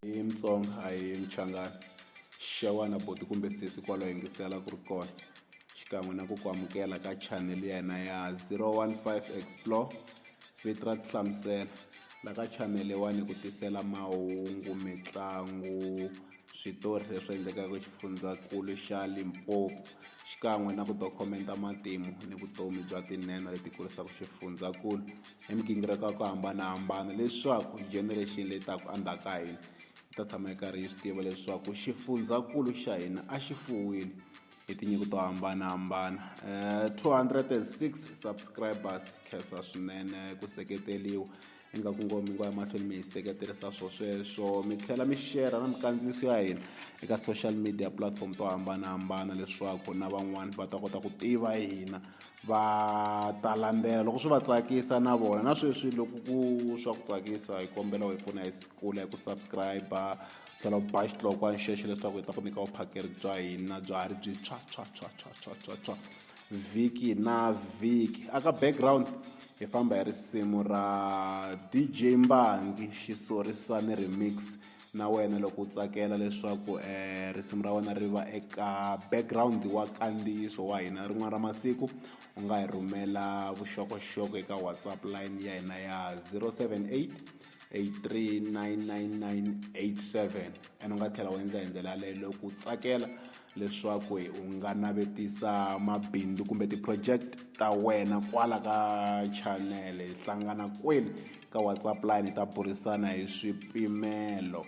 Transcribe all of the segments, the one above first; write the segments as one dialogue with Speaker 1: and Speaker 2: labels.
Speaker 1: I Mutsonga a hi Muchangana xewani buti kumbe sesi kwalaho yingisela ku ri kona xikan'we na ku ku amukela ka channel ya hina ya 015 explore vito ra tihlamusela la ka channel leyiwani hi ku tisela mahungu mitlangu switori leswi endlekaka xifundzankulu xa Limpopo xikan'we na ku dokumenta matimu ni vutomi bya tinhenha leti kurisaka xifundzankulu hi migingiriko ya ku hambanahambana leswaku generation leyi taka endzhaku ka hina yi ta tshama yi karhi yi swi tiva leswaku xifundzankulu xa hina a xi fuwile hi tinyiko to hambanahambana um 206 subscribers khensa swinene ku seketeriwa ingaku ngo mi ngo ya mahlweni mi hi seketerisa swo sweswo mi tlhela mi shera na mikandziyiso ya hina eka social media platform to hambanahambana leswaku na van'wani va ta kota ku tiva hina va ta landzela loko swi va tsakisa na vona na sweswi loko ku swa ku tsakisa hi kombela hi pfuna hi kula hi ku subscribe tlhela u ba xitloko a nxexo leswaku hi ta ku nyika vuphakeri bya hina bya ha ri byi tshwa tshwa tshwa tshwa tshwa tshwa tshwa vhiki na vhiki aka background hi famba hi risimu ra dj mbangi xisorisani remix na wena loko u tsakela leswaku um risimu ra wena ri va eka background wa kandziyiso wa hina rin'wana ra masiku u nga hi rhumela vuxokoxoko eka whatsapp line ya hina ya 078 8399987 and u nga tlhela u endla hi ndlela yaleyo loko u tsakela leswaku u nga navetisa mabindzu kumbe ti-project ta wena kwala ka channel hi hlangana kwini ka whatsapp line hi ta burisana hi swipimelo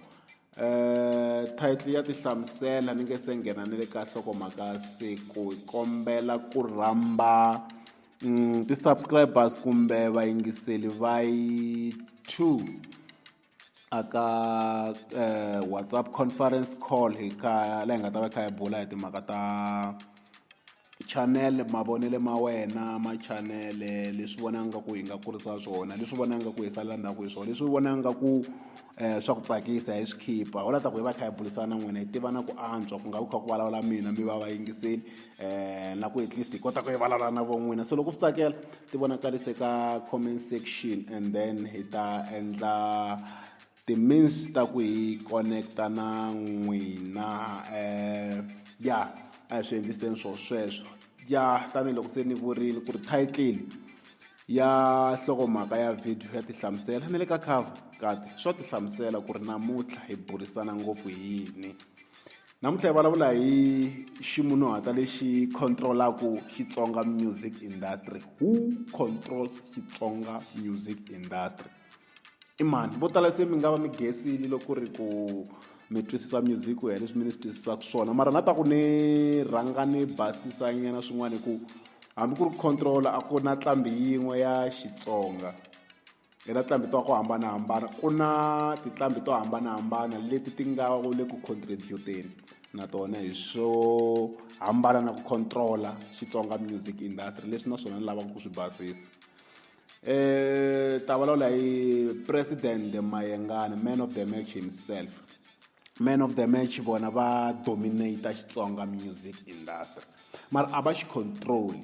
Speaker 1: um title ya tihlamusela ni nge se nghena ni le ka hlokomhaka siku hi kombela ku rhamba um ti-subscribers kumbe vayingiseli va yi two a ka eh, whatsapp conference call hi ka la hi nga ta va kha hi bula hi timhaka ta chanele mavonele ma wena ma chanele leswi vona nga ku hi nga kurisa swona leswi vona nga ku hi salela ndzhaku hi swona leswi vona nga ku um swa ku tsakisa hi swi khipha wu la ta ku hi va kha hi bulisana n'wina hi tiva na ku antswa ku nga ku kha ku vulavula mina mi va va yingiseli um na ku at least hi kota ku yi valala na von'wina so loko swi tsakela ti vonakalise ka comment section and then hi ta endla ti-means ta ku hi connecta na n'wina um ya a hi swi endliseni swo sweswo ya tanihiloko se ni vurile ku ri title ya nhlokomhaka ya video ya tihlamusela ni le ka cover kati swa tihlamusela ku ri namuntlha hi burisana ngopfu hi yini Namuntlha hi vulavula hi ximunhuhatwa lexi controlaka Xitsonga music industry who controls Xitsonga music industry i mani vo tala se mi nga va mi gesile loko ri ku mi twisisa music ku ya leswi mi ni swi twisisaka swona mara na ta ku ni rhanga ni basisa nyana swin'wana hi ku hambi ku ri control a ku na nqambi yin'we ya Xitsonga Eka tinqambi to hambanahambana ku na tinqambi to hambanahambana leti ti nga le ku contribut-eni na tona hi swo hambana na ku control-a Xitsonga music industry leswi na swona ni lavaka ku swi basisa um ta vulavula hi president Mayengani man of the match himself man of the match vona va dominate Xitsonga music industry mara a va xi control-i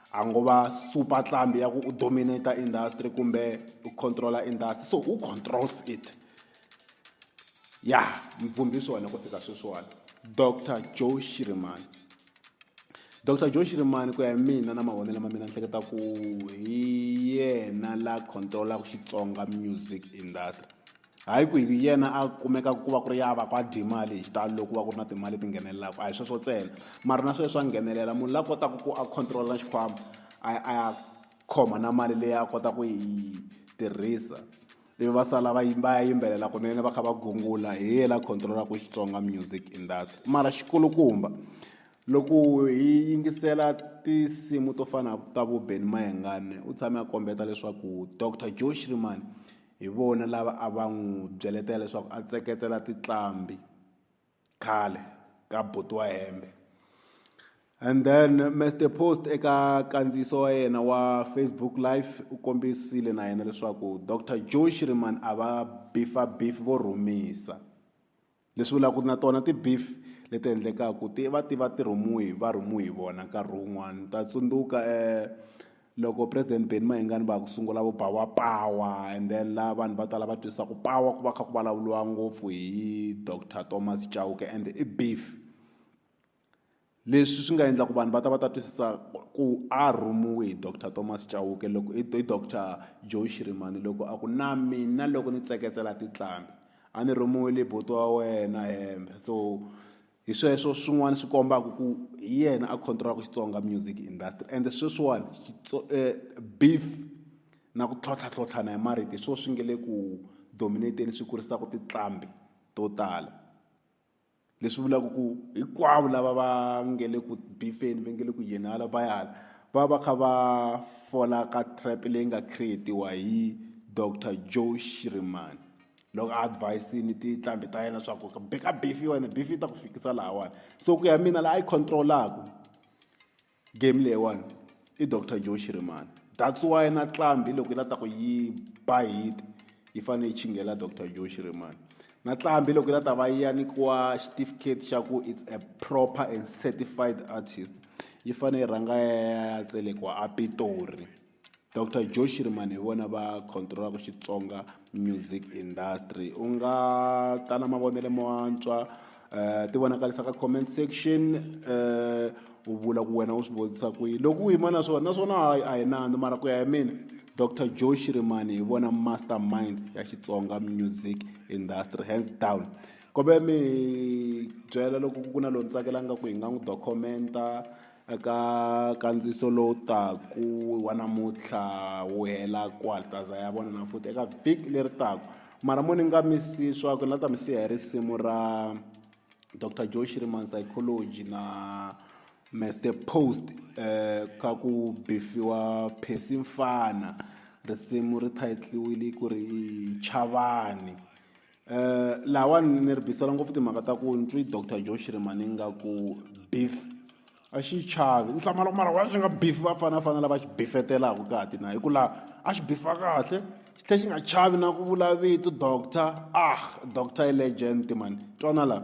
Speaker 1: a ngo va super tlambi ya ku u dominate industry kumbe u controla industry so who controls it ya mvumbi swona ku fika sweswiwani dr joe shirimani dr joe shirimani ku ya hi mina na mavonelo ma mina ni hleketa ku hi yena la controlaka xitsonga music industry hayi ku hi yena a kumeka ku va ku ri ya va ku a dye mali hi xitalo loko ku va ku ri na timali leti nghenelelaka a hi sweswo ntsena mara na sweswo swa nghenelela munhu la kotaka ku a control-a na xikhwama a ya a ya khoma na mali leyi a kota ku yi tirhisa ivi va sala va va ya yimbelela kunene va kha va gungula hi yena la control-aka Xitsonga music industry mara xi kulukumba loko hi yingisela tinsimu to fana ta vo Benny Mayengani u tshame a kombeta leswaku Doctor Joe Shirimani. hi vona lava a va n'wi byeletela leswaku a tseketsela tiqambi khale ka buti wa hembe and then Mister Post eka kandziyiso wa yena wa Facebook live u kombisile na yena leswaku Dr Joe Shiriman a va bifa bifi vo rhumisa leswi vulaka na tona ti-beef leti endlekaku ti va ti va ti rhumiwe va rhumiwe hi vona nkarhi wun'wani ni ta tsundzuka loko president Benny Mayengani va ku sungula vo ba wa pawa and then la vanhu vo tala va twisa ku pawa ku va kha ku vulavuriwa ngopfu hi doctor Thomas Chauke and i beef. Leswi swi nga endla ku vanhu va ta va ta twisisa ku a rhumiwe hi doctor Thomas Chauke loko hi hi doctor Joe Shirimani loko a ku na mina loko ni tseketsela tinhlambi a ni rhumiwile hi buti wa wena hembe so hi sweswo swin'wana swi kombaka ku hi yena a control-aka Xitsonga music industry ende sweswiwani beef na ku tlhontlha tlhontlhana hi marito hi swona swi nga le ku dominate-eni swi kurisaka tinqambi to tala. leswi vulaka ku hinkwavo lava va nge le ku bifeni va nge le ku yeni hala va ya hala va va kha va fola ka trap leyi nga creatiwa hi dr joe shirimani loko a advise-ini tinhlambi ta yena swa ku beka bifi wena bifi yi ta ku fikisa lahawani so ku ya mina laha a yi control-aku game leyiwani i doctor joe shirimani that's why na tlambi loko yi la ta ku yi ba hit yi fanele yi chingela doctor joe shirimani na tlambi loko yi la ta va yi ya nyikiwa xitifiketi xa ku it's a proper and certified artist yi fanele yi rhanga ya ya tselekiwa a pitori Doctor Joe Shirimani hi vona va controlaka Xitsonga music industry u nga ta na mavonelo mo antswa um ti vonakarisa ka comment section um u vula ku wena u swi vonisa ku yi loko u yima na swona naswona hayi a hi nandzu mara ku ya hi mina Doctor Joe Shirimani hi vona master mind ya Xitsonga music industry hands down kobe mi byela loko ku na loyi ni tsakelaka ku hi nga n'wi dokumenta Eka nkandziyiso lowu taku wa namuntlha wu hela kwaltaza ya vona na futhi eka vhiki leri taku mara mo ni nga mi si swa ku ni la ta mi siya hi risimu ra dr joe shiriman psychology na mester post um ka ku bifiwa phesi mfana risimu ri thayitliwile ku ri chavani Eh, lawani ni ri bisela ngopfu timhaka ta ku ni twi doctor joe shirimani nga ku beef a xi chavi ni hlamala ku mara wa swi nga beef va fana fana lava xi bifetelaka ka ti na hi ku laha a xi bifa kahle xi tlhe xi nga chavi na ku vula vito doctor ah doctor i legend mani twana laha